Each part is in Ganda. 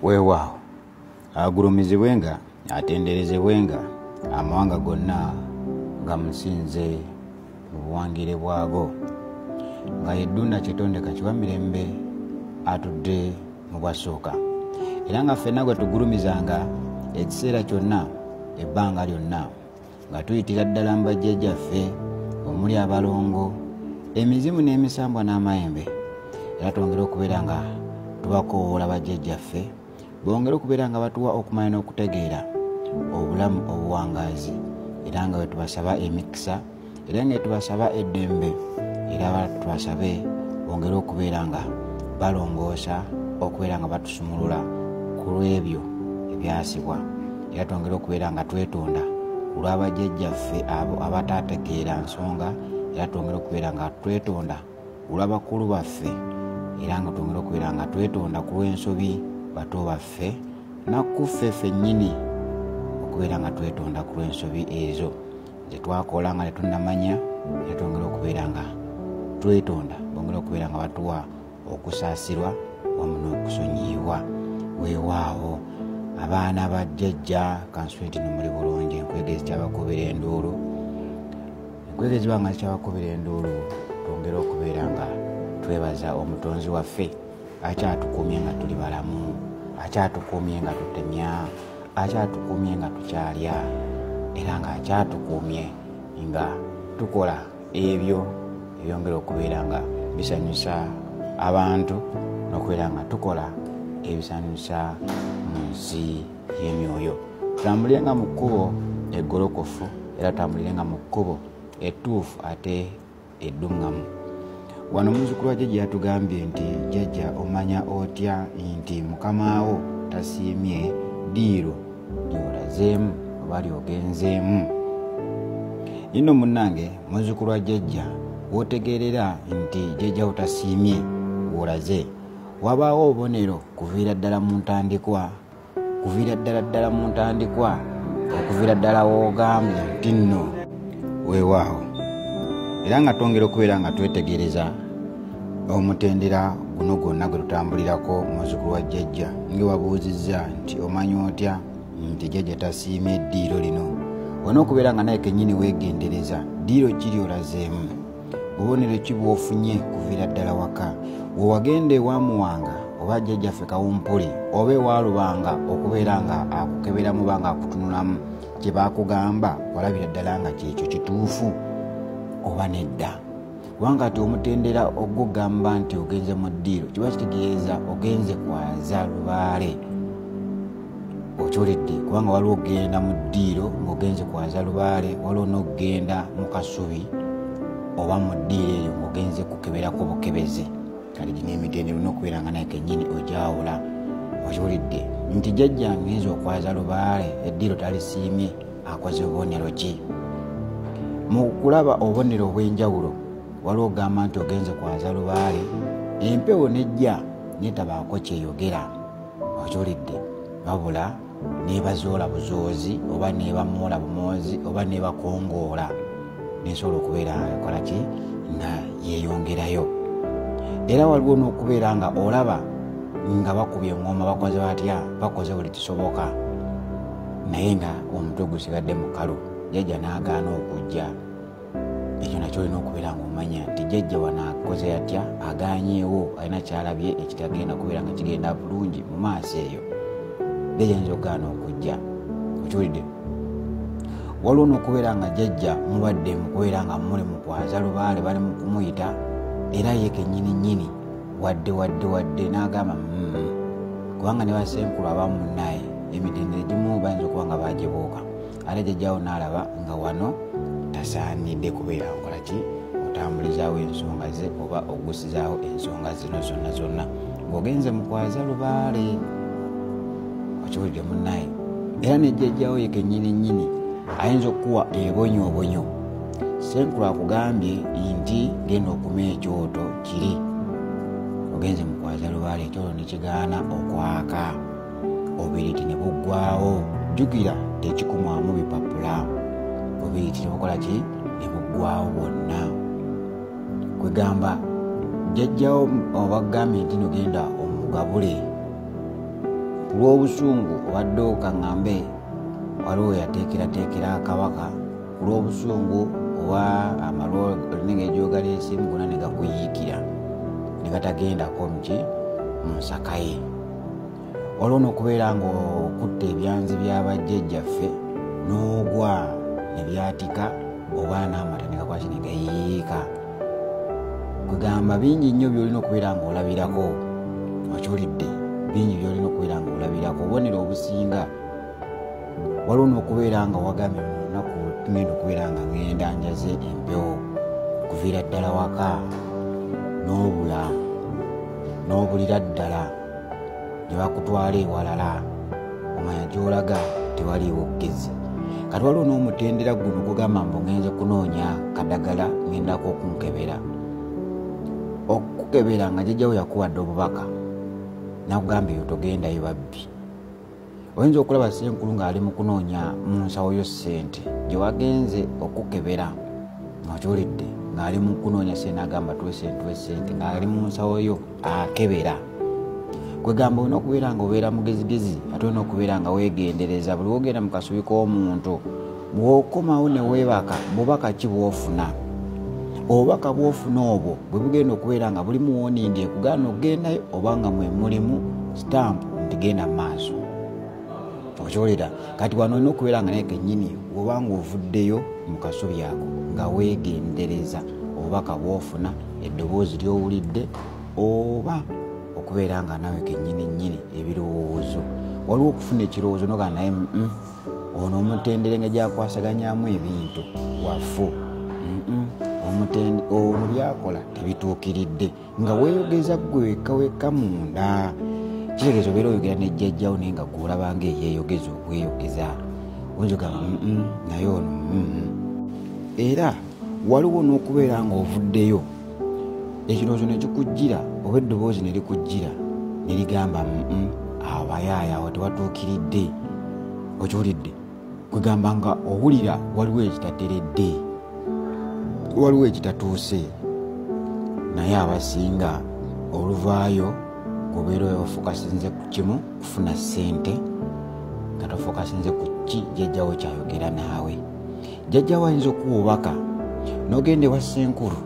weewaawo agulumizibwenga atenderezebwenga amawanga gonna nga musinze mu buwangire bwago nga yeddunda kyetondeka kiwa mirembe atudde mu bwasooka era nga ffenna gwe tugulumizanga ekiseera kyonna ebbanga lyonna nga tuyitira ddala mu bajjajjaffe omuli abalongo emizimu n'emisambwa n'amayembe era twongere okubeera nga tubakoowoola bajjajjaffe bongere okubeera nga batuwa okumanya n'okutegeera obulamu obuwangaazi era nga wetubasaba emikisa era nga wetubasaba eddembe era tubasabe bongere okubeera nga balongoosa okubeera nga batusumulula ku lw'ebyo ebyasibwa era twongere okubeera nga twetonda olwabajjajjaffe abo abataategeera nsonga era twongere okubeera nga twetonda olwabakulu baffe era nga twongere okubeera nga twetonda ku lw'ensobi bato baffe nakkuffe fennyini okubeera nga twetonda ku lw'ensobi ezo zetwakola nga tetunamanya era twongere okubeera nga twetonda bongere okubeera nga batuwa okusaasirwa wamu n'okusonyiyibwa weewaawo abaana ba jjajja kanswenti nomuli bulungi enkwege zikyabakubira enduulu enkwege ziba nga zikyabakubira enduulu twongere okubeera nga twebaza omutonzi waffe akyatukumye nga tuli balamu akyatukumye nga tutemya akyatukumye nga tukyalya era nga akyatukumye nga tukola ebyo ebyongera okubeera nga bisanyusa abantu nokubeera nga tukola ebisanyusa mu nsi y'emyoyo tutambulirenga mu kkubo eggolokofu era tutambulirenga mu kkubo ettuufu ate edduŋŋamu wano omuzukulu wa jajja yatugambye nti jajja omanya otya nti mukama wo tasiimye diiro gyolazeemu oba lyogenzeemu yino munange muzukulu wa jajja wotegeerera nti jajja otasiimye wolaze wabaawo obubonero kuviira ddala mu ntandikwa kuviira ddala ddala mu ntandikwa okuviira ddala wogambye nti nno weewaawo era nga twongera okubeera nga twetegereza omutendera guno gwonna gwe tutambulirako muzukulu wa jjajja nge wabuuzizza nti omanyi otya nti jjajja tasiimye eddiiro lino olina okubeera nga naye kennyini weegendereza ddiiro kiri olazeemu bubonero ki bwofunye kuviira ddala waka wewagenda ewamuwanga oba jjajjaffe kawumpuli oba ewalubanga okubeera nga akukeberamu banga akutunulamu kye bakugamba olabira ddala nga kyekyo kituufu oba nedda kubanga ati omutendera ogugamba nti ogenze mu ddiiro kiba kitegeeza ogenze kwaza lubaale okyoledde kubanga waliwo okugenda mu ddiiro ngaogenze kwaza lubaale waliwo n'okugenda mu kasubi oba mu ddiiro eyo ngaogenze kukeberako bukebeze kati gino emitendera olina okubeera nga naye kenyini ogyawula okyoledde nti jajja ngenza okwaza lubaale eddiiro talisiimye akoze obubonero ki mu kulaba obubonero obw'enjawulo waliwo ogamba nti ogenze kwanza lubaale empewo nejja netabaako kyeyogera okiwulidde wabula nebazoola buzoozi oba nebamuula bumoozi oba nebakongoola nesobola okubeera ekola ki nga yeyongerayo era waliwo n'okubeera nga olaba nga bakubye ngoma bakoze batya bakoze buli kisoboka naye nga omutwe gusigadde mukalu jajja n'agaana okujja ekyo nakyo olina okubeera nga omanya nti jajja wanaakoze atya aganyeewo alina kyalabye ekitagenda kubeera nga kigenda bulungi mu maaso eyo jajja nyinza okugaana okujja okiwulidde waliwo nokubeera nga jajja mulwadde mukubeera nga muli mukwaza lubaale bali mukumuyita era ye kenyini nyini wadde wadde wadde n'agamba mm, kubanga ne basenkulu abamu munaye emitendo egimu bayinza okuba nga bagibuuka ate jajjawo n'alaba nga wano tasaanidde kubeera nkola ki otambulizawo ensonga ze oba ogusizawo ensonga zino zonna zonna ng'ogenze mukwaza lubaale okiwulidde munaye era nejjajjawo yekenyini nyini ayinza okukuwa ebonyoobonyo senkulu akugambye nti genda okuma ekyoto kiri ogenze mu kwaza lubaale ekyolo ne kigaana okwaka obiriti ne buggwawo jjukira tekikumwamu bipapula obiriti ne bukola ki ne buggwawo bwonna kwegamba jjajjawo obagambye nti nogenda omugabule ku lw'obusungu obadde okaŋŋambe waliwo yateekerateekera kabaka ku lw'obusungu oba amalwolninga ejoogala ensimu gona ne gakuyiikira ne gatagendako muki mu nsaka ye waliwo n'okubeera ng'okutta ebyanzi by'abajjajjaffe n'ogwa ne byatika oba n'amata ne gakwaki ne gayiika kwegamba bingi nnyo by'olina okubeera ng'olabirako okiwulidde bingi by'olina okubeera ng'olabirako obubonero obusinga waliwo n'okubeera nga wagamye munaku tumenda okubeera nga ngenda njaze empewo okuviira ddala waka n'obula n'obulira ddala ne bakutwala ewalala omanya gyolaga tewaliiwo okugezi kati waliwo n'omutendera guno gugamba mbu ngenze kunoonya kadagala ngendako okunkebera okukebera nga jajjawo yakuwadde obubaka nakugamba eyo togendayo babbi oyinza okulaba senkulu ng'ali mu kunoonya mu nsawo yo ssente gye wagenze okukebera okiwulidde ng'ali mu kunoonya sente agamba twesentwe sente ng'ali mu nsawo yo akebera kwegamba olina okubeera nga obeera mugezigezi ate olina okubeera nga wegendereza buli wogenda mu kasubi k'omuntu bw'okomawo ne weebaka bubaka ki bw'ofuna obubaka bw'ofuna obwo bwe bugenda okubeera nga bulimu wonindi ekugaana okugendayo oba nga mwe mulimu sitampu nti genda mu maaso okiwulira kati wano olina okubeera nga naye kennyini oba ng'ovuddeyo mu kasubi ako nga weegendereza obubaka bw'ofuna eddoboozi ly'owulidde oba okubeera nga nawe kennyini nnyini ebirowoozo waliwo okufuna ekirowoozo nogaa naye mm, ono omutendere nga gyakwasaganyamu ebintu wafu omutende ono byakola tebituukiridde nga weeyogeza gwe wekka wekka munda kitegeeza obeera oyogera nejjajjawo naye nga gweolabanga eyeeyogeza okweyogeza oyogamba naye ono era waliwo n'okubeera ng'ovuddeyo ekirowoozo ne kikujjira oba eddoboozi ne likujjira ne ligamba awo bayaaya awo tewatuukiridde okiwulidde kwegamba nga owulira waliwo ekitateredde waliwo ekitatuuse naye abasinga oluvaayo obeera ofukasinze ku kimu kufuna ssente nga tofukasinze ku ki jjajjawo kyayogera naawe jjajja wayinza okuwa obubaka nogenda ewa senkulu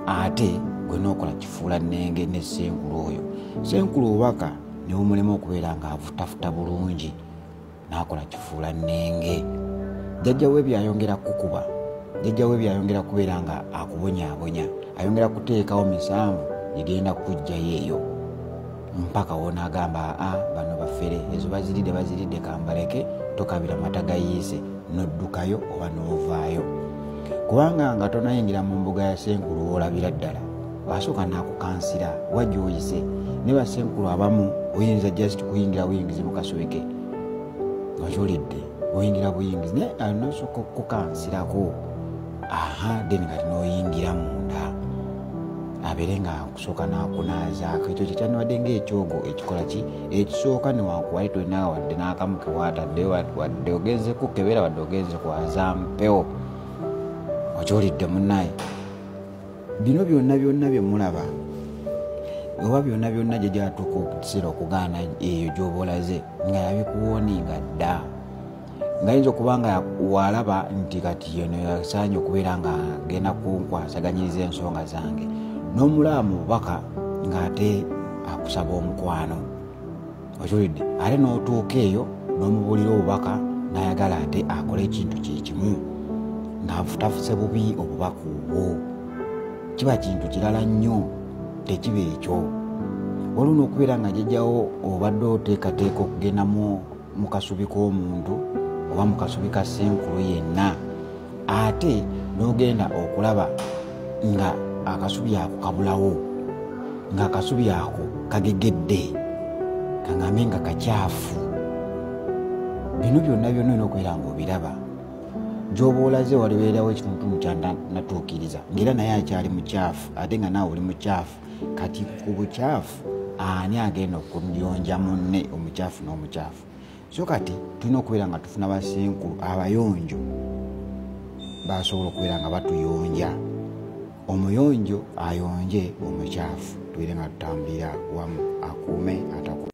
ate gwe nokola kifuula nenge ne senkulu oyo senkulu obubaka newumulema okubeera nga avutafuta bulungi nakola kifuula nenge jjajja we byayongera kukuba jjajja we byayongera kubeera nga akubonyabonya ayongera kuteekawo misanvu egenda kujjayo eyo mpaka wonaagamba aa ah, bano bafere ezo baziridde baziridde kambaleke tokabira mata gayiise noddukayo oba novaayo kubanga nga tonayingira mu mbuga ya senkulu wolabira ddala wasooka nakukansira wajoyise ne basenkulu abamu oyinza just kuyingira buyingizi mukasubike ojulidde oyingira buyingizi naye anosooka okukukansirako aha then kati noyingira munda abere nga sooka nakunaazaako ekyo kyekyandibadde ngaekyogo ekikola ki ekisooka newankuwali tolina wadde n'akamu kewatadde wadde ogenze kukebera wadde ogenze kwaza mpewo okyolidde munaye bino byonna byonna byemulaba oba byonna byonna gye gyatuuka okukiseera okugaana eyo gyobolaze nga yabikuwooninga dda ngayinza okuba nga walaba nti kati yeno yasaanye okubeera nga genda kunkwasaganyiriza ensonga zange nomulaba mu bubaka ngaate akusaba omukwano okiwulidde ate notuuka eyo nomubulira obubaka nayagala ate akole ekintu kyekimu ngafutafuse bubi obubaka obwo kiba kintu kirala nnyo tekiba ekyo waliwo nokubeera nga jajawo obadde oteekateeka okugendamu mu kasubi k'omuntu oba mu kasubi ka senkulu yenna ate n'ogenda okulaba nga akasubi ako kabulawo nga akasubi ako kagegedde kaŋambe nga kakyafu bino byonna byonna olina okubeera nga obiraba gyoba olaze walibeerawo ekituntumu kyanatuukiriza ngaera naye akyali mukyafu ate nga naawe oli mukyafu kati ku bukyafu ani agenda okuyonja munne omukyafu n'omukyafu so kati tulina okubeera nga tufuna basenkulu abayonjo basobola okubeera nga batuyonja omuyonjo ayonje omukyafu tubeere nga tutambulira wamu akuume ataku